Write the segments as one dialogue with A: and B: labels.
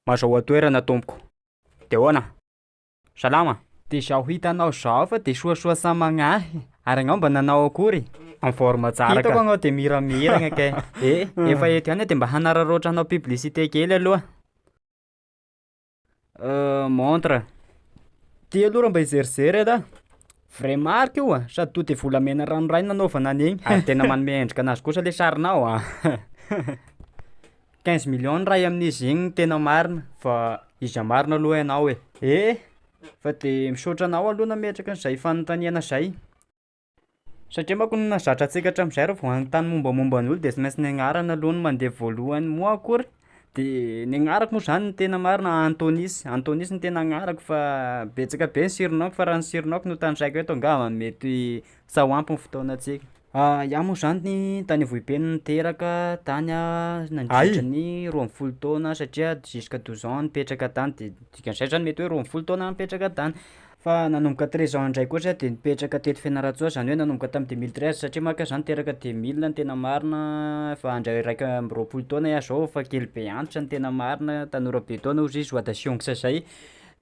A: Mazahoa toerana tompoko. De ahoana? Salama? De zao
B: hitanao zao fa de soasoa sa magnahy? Ary agnao mba nanao akory? En forme tsara
A: ka. Hitako agnao de miramiragna
B: kay. Eh, efa eto ihany aho de mba hanararaotra anao publicité kely aloha.
A: Montre,
B: ty aloha raha mba hizerizery aloha, vrai marque io an, sady tonga de volamena ranoray no nanaovana an'igny, ary tena manome endrika
A: anazy kosa le sarinao an,
B: quinze millions ny ray amin'izy igny tena marina fa iza marina aloha
A: ianao e. Eh! Fa
B: de misaotra anao aloha nametraka an'izay fanontaniana zay. Satria manko na zatra antsika hatramin'izay raha vao hanontany mombamomba ny olona de tsy maintsy ny agnarana aloha no mandeha voalohany moa akory de ny agnarako moa zany no tena marina Antonis, Antonis no tena agnarako fa betsaka be ny surnoms-ko fa raha ny surnoms-ko no tanisaiko eto angamba mety sa ho ampy ny fotoanantsika. Iaho moa zany tany Ambohibe no niteraka tany aho nandritra ny roa amby folo taona satria jusqu'à douze ans nipetraka tany de dikan'izay zany mety hoe roa amby folo taona aho nipetraka tany. Fa nanomboka treize ans indray koa zah dia nipetraka teto Fianarantsoa zany hoe nanomboka tamin'ny deux mille treize satria manko ah zah niteraka deux mille ny tena marina efa handray iraika amby roapolo taona ah zao efa kely be antitra ny tena marina tanora be taona ozy izy oa da siongotra zay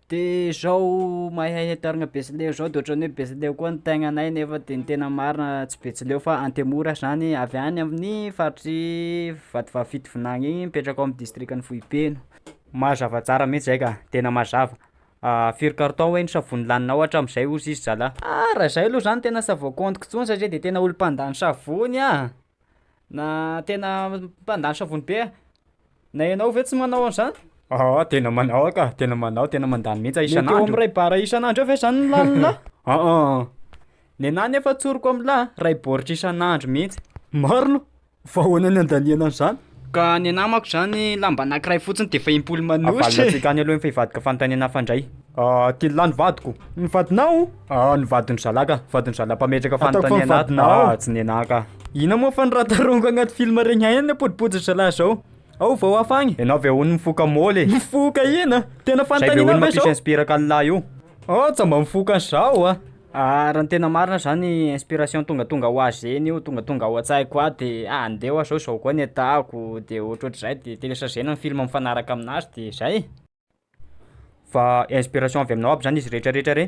B: de zao mahay hahay tarina betsileo zao de ohatran'ny hoe betsileo koa ny tegnanay nefa de ny tena marina tsy betsileo fa antemora zany avy any amin'ny faritry vatovavy fitovinany iny mipetraka ao amin'ny distrikan'i foibe no mazava
A: tsara mihintsy zay ka tena mazava Ahh firy carton hoe ny savony lanina ao hatramizay ozy izy zalah. Ah raha izay aloha zany
B: tena savo comptiko tsony satria de tena olo mpandany savony ah na tena mpandany savony be ah na ianao ve tsy manao an'zany? Aa tena manao
A: aho ka tena manao tena mandany mihitsy aho isan'andro. Mety eo amin'ny ray bara
B: isan'andro
A: eo
B: ve zany ny lanina? Aa nenah nefa tsoriko amin'lah ray baoritra isan'andro mihitsy. Marina
A: Fa ahoana ny andaniana an'izany? Ka ny anah manko
B: izany lamba anankiray fotsiny dia efa im-polo manouche. Avalona tsy tany aloha
A: ny
B: fehivadiko
A: fanontaniana hafa indray. Ahh kila ny vadiko. Ny vadinao?
B: Ahh ny vadin'ny zalah
A: ka. Vadin'ny zalah mpametraka fanontaniana ato na
B: tsy ny
A: anah ka. Inona moa fa ny raha
B: tarongo agnaty film regny haigny ny podopodotra zalah zao? Ao vao hafa agny? Enao ve hono mifoka
A: môly e? Mifoka ina?
B: Tena fanontaniana ve zao? Zay be hono mampisy
A: inspiraka
B: an'lah io.
A: Aah tsa mba mifoka
B: an'zao a! Ah raha ny tena marina zany inspiration tongatonga ho ahy zegny io tongatonga ao an-tsahiko ahy de ah andeha hoa zao zao koa ny atahako de ohatrohatrizay de telechager-na ny film mifanaraka aminazy de zay e.
A: Fa inspiration avy aminao aby zany izy retraretra re?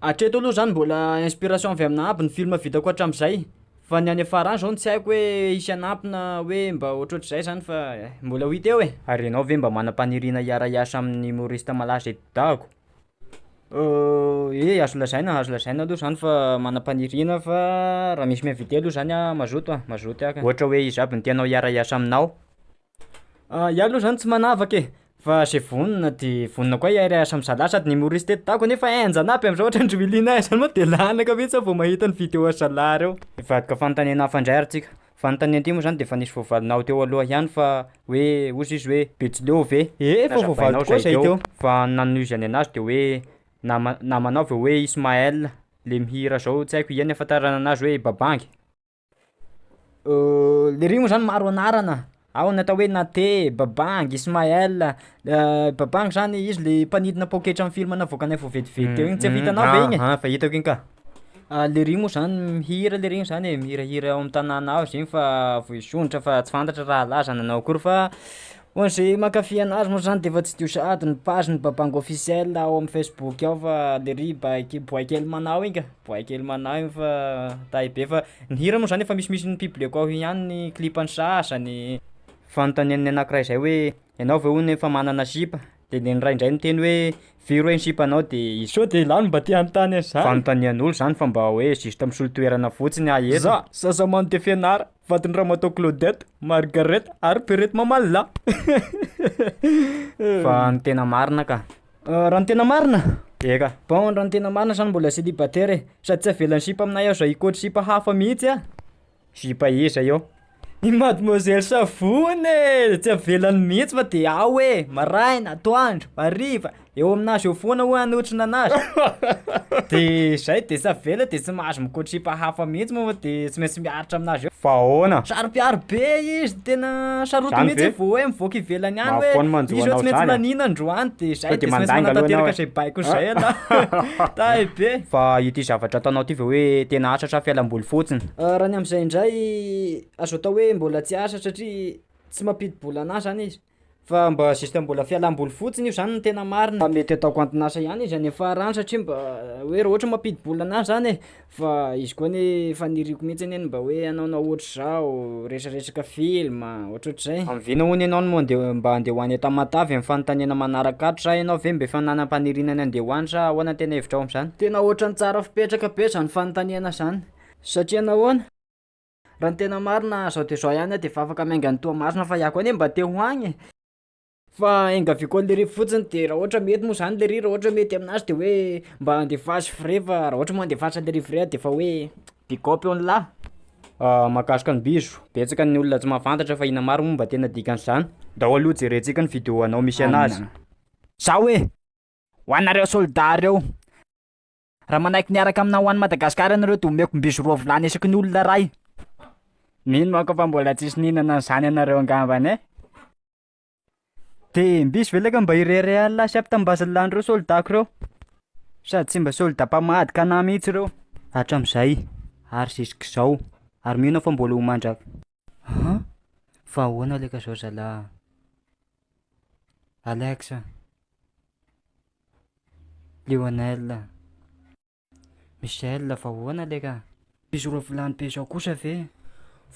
A: Hatreto
B: aloha zany mbola inspiration avy aminah aby ny film vitako hatramizay fa ny any afarany zao no tsy haiko hoe hisy hanampina hoe mba ohatrohatrizay zany fa mbola ho hita eo e. Ary enao ve mba manam-paniriana
A: hiara-hiasa amin'ny humoriste malaza eto dago? Ye,
B: azo lazaina azo lazaina aloha zany fa manam-paniriana fa raha misy mi-inviter aloha zany aho mazoto a, mazoto hiaraka, ohatra hoe iza aby no tianao
A: hiara-hiasa aminao?
B: Iah aloha zany tsy manavaka e, fa ze vonona de vonona koa hiara-hiasa am'za lahy, sady ny humoriste eto dago nefa henjana aby am'zao ohatran'i Willy Nahy zany moa de lanaka mihitsy aho vao mahita ny vidéo an'i zalahy reo. Hivadika fanontaniana
A: hafa indray ary tsika. Vantany andia moa zany dia efa nisy voavalinao teo aloha ihany fa hoe ozy izy hoe Betsileo ve? Ee efa voavaly tokoa
B: izay teo fa ny nanozany
A: anazy dia hoe nama namanao ve hoe Ismaël le mihira zao tsy haiko iany ahafantarana anazy hoe Babangy?
B: Lery moa zany maro anarana. Ao ny atao hoe Nate, Babang, Ismael, Babang zany izy le mpanidina paoketra am film navoakanay vao vetivety teo igny, tsy efa hitanao ve igny e? Aha, efa hitako igny ka.
A: Ah le regny
B: moa zany mihira le regny zany e, mihirahira ao am tanàna ao zegny fa voizondrotra fa tsy fantatra raha laza nanao akory fa ho an'ze mankafy anazy moa zany defa tsidio sahady ny page n'ny Babang officiel ao amin'ny facebook ao fa le riba- boay kely manao igny ka. Boay kely manahy io fa tahy be fa ny hira moa zany efa misimisy ny publieko ao ihany ny clipany sasany. Fanontanian'ny
A: anankiray izay hoe ianao ve hono efa manana sipa? Dia ny iray indray miteny hoe firy hoe ny sipanao dia izao. Sao dia ialahy no mba te
B: hanontany an'izany? Fanontanian'olo zany fa mba
A: hoe juste misolo toerana fotsiny aho eto. Za, zaza mando dia
B: fianara. vadin'i Ramatoa Claudette, Margaret ary Perrette Mamalila.
A: Fa ny tena marina ka. Ah, raha ny tena
B: marina? Eka. Bon,
A: raha ny tena marina
B: zany mbola célibataire e. Sady tsy avelan'ny sipa aminay aho izay hikôtry sipa hafa mihitsy ah. Sipa
A: iza eo? I mademoiselle
B: Savony e! Tsy avelany mihitsy fa de ao e! Maraina, atoandro, hariva, Eo aminazy eo foana hoe hanotrona anazy. Dia izay, dia tsy avela dia tsy mahazo mikotripa hafa mihitsy moa dia tsy maintsy miaritra aminazy eo. Fa ahoana? Saropiaro
A: be
B: izy, tena sarotiny Zany mihitsy ve? vao hoe mivoaka
A: ivelany
B: any Mahafoana hoe manjo izy hoe anao tsy maintsy zany,
A: a? laniana androany
B: dia
A: izay,
B: Sao dia dia tsy maintsy mandanga aloha manatanteraka ianao, izay baiko
A: izay
B: ialahy. Tahy be. Fa ity zavatra
A: ataonao ity ve hoe tena asa sa fialam-boly fotsiny? Ah, raha ny amin'izay indray,
B: azo atao hoe mbola tsy asa satria tsy mampidi-bola anazy zany izy. Fa mba juste mbola fialam-boly fotsiny io zany no tena marina. Fa mety ataoko anton'asa ihany izy any amin'ny farany satria mba hoe raha ohatra hoe mampidi-bola an'ahy zany e, fa izy koa anie faniriako mihitsy anie ny mba hoe hanaonao ohatr'izao, resaresaka film, ohatrohatr'izay. Amin'ny vina hono ianao no andeha mba andeha ho any Tamatave amin'ny fanontaniana manaraka ato sa ianao ve mba efa nanam-paniriana ny andeha ho any sa ahoana ny tena hevitrao amin'izany? Tena ohatran'ny tsara fipetraka be zany fanontaniana zany satria nahoana? Raha ny tena marina zao de zao ihany aho de efa afaka miainga any Toamasina fa iah koa anie mba te ho agny e! Fa enga avy koa lery fotsiny de raha ohatra mety moa zany lery raha ohatra hoe mety aminazy de hoe mba andefaso vrai fa raha ohatra moa andefasa lery vrai ah defa hoe big up eo ny lahy. Ahh mahakasika ny bizo, betsaka ny olona tsy mahafantatra fa ina mary moa mba tena dikan'izany? Ndao aloha jerentsika ny video anao misy anazy. Zao e!
C: Ho anareo soldat reo. Raha manaiky miaraka aminao ho any Madagasikara ianareo dia omeko mby sy roa vilany isaky ny olona iray. Mino manko aho fa mbola tsisy nihinana an'izany ianareo angambany e! Dia mby sy velaka mba iray iray alina lasa ampy tam'base-lan'ireo soldats-ko ireo. Sady tsy mba soldats mpamadika anah mihitsy ireo. Hatramin'izay ary zisk'izao. Ary mino aho fa mbola ho mandrak. An? Fa ahoana leka zao zalah? Alex a! Lionel. Michel fa ahoana le ka? Bizo roa vilany be zao kosa ve?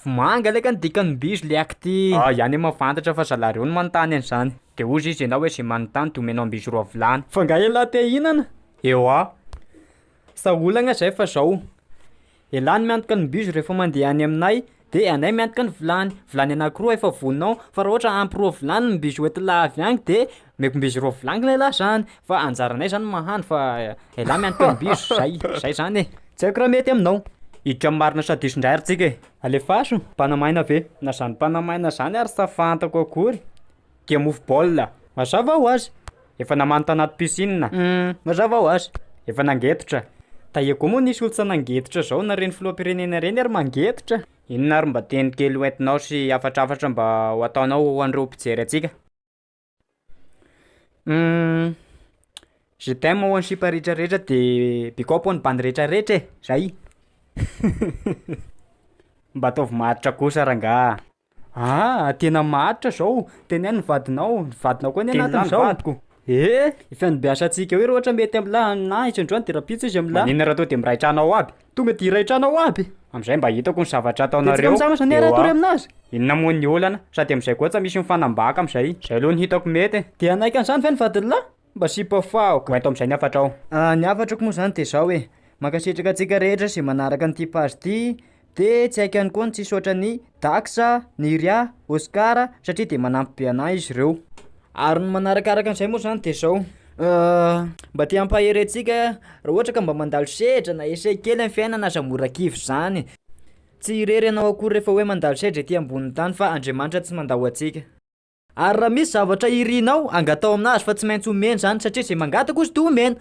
C: Vomanga
B: le ka ny dikan'ny bizo le akty. Ay any ma fantatra
A: fa zalareo no manontany an'izany. De ozy izy enao hoe ze manontany de omenao ambizo roa vilany. Fa nga elah te hihinana?
B: Ewa. Sa olagna zay fa zao. Dia lany miantoka ny bus rehefa mandeha any aminay dia anay miantoka ny vilany, vilany anakiroa efa vononao fa raha ohatra ampy roa vilany ny bus hoentin'lah avy any dia omeko bus roa vilany lay lah zany fa anjaranay zany mahandro fa elah miantoka ny bus, zay, zay zany e. Tsy haiko raha mety aminao. Hiditra marina sa
A: diso indray ary tsika e. Alefaso, mpanamaina
B: ve?
A: Na zany mpanamaina
B: zany ary sa fantako akory. dia mofo
A: baolina. Mazava ho azy,
B: efa namaly tanaty
A: piscine. Mazava ho azy,
B: efa nangetotra.
A: Tahiako moa
B: nisy olon-tsa nangetotra zao na reny filoham-pirenena reny ary mangetotra. Inona ary mba teny
A: kely hoentinao sy hafatrafatra mba ho ataonao ho an'ireo mpijery antsika? Hum.
B: Je t'aime ho an'i sipa rehetra rehetra de bikôp ho an'ny bandy rehetra rehetra e! Zay!
A: Mba ataovy maharitra kosa rangah! Aa
B: tena maharitra zao, teneno ny vadinao, ny vadinao koa anie Teny anatiny lany zao. vadiko. Ee!
A: Ny
B: fiandbiasantsika hoe ohatra mety amla na izy androany de rahampitso izy amla. Maninona raha toa de miray trano ao
A: aby? Tonga de hiray trano ao
B: aby? Amzay mba hitako ny
A: zavatra Dia tsika ataonareo mizama zany eo raha toa ry a!
B: aminazy? Inona moa ny olana?
A: Sady amzay koa tsa misy mifanambaka amzay. Zay aloha no hitako mety e! De hanaiky an'izany ve ny
B: vadin'lah? Mba sipa faho ka. Hoento amin'izay ny hafatrao.
A: Ny hafatrako moa
B: izany dia izao e, mankasitraka antsika rehetra izay manaraka an'ity page ity, dia tsy haiko ihany koa ny tsy hisaotra an'i Dax, Niria, Oscar satria dia manampy be anah izy ireo. Ary ny manarakaraka an'izay moa izany dia izao, mba te hampahery antsika raha ohatra ka mba mandalo sedra na essaie kely amin'ny fiainana aza mora kivy izany, tsy irery ianao akory rehefa hoe mandalo sedra ety ambonin'ny tany fa Andriamanitra tsy mandao antsika. Ary raha misy zavatra irinao, angatao amin'Azy fa tsy maintsy omeny izany satria izay mangataka hozy dia omena.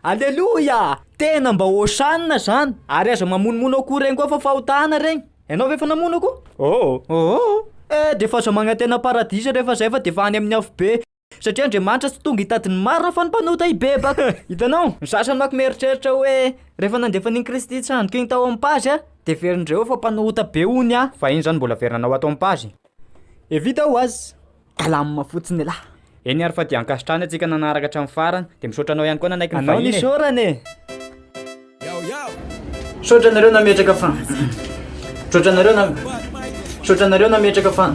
B: Aleloia! Tena mba Hosanna izany! Ary aza mamonomono akoho ireny koa fa fahotana ireny. Ianao ve efa namono akoho? Oo! Oo! Eh, dia efa aza magnantena paradisa rehefa izay fa dia efa any amin'ny afobe. Satria Andriamanitra tsy tonga hitady ny marina fa ny mpanota hibebaka. Hitanao? Ny sasany manko mieritreritra hoe rehefa nandefa an'iny Kristy hitsandoka iny tao amin'ny pazy aho dia heverin'ireo fa mpanota be hono aho. Fa iny izany mbola averina
A: anao ato amin'ny pazy. E vita ho
B: azy ka lamina fotsiny elah. Eny ary fa dia
A: ankasitrahana antsika nanaraka hatramin'ny farany. Dia misaotra anao ihany koa nanaiky ny vahiny e. Anao ny isaorana e. Misaotra anareo
B: nametraka fa Misaotra anareo na Misaotra anareo nametraka fa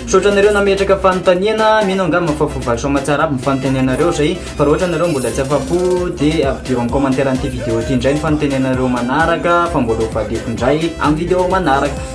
B: Misaotra anareo nametraka fanontaniana Mino angamba fa voavaly soa aman-tsara aby ny fanontanianareo Zay fa raha ohatra nareo mbola tsy afa-po Dia avidio amin'ny commentaire an'ity vidéo ity indray ny fanontanianareo manaraka Fa mbola ho valiako indray amin'ny vidéo manaraka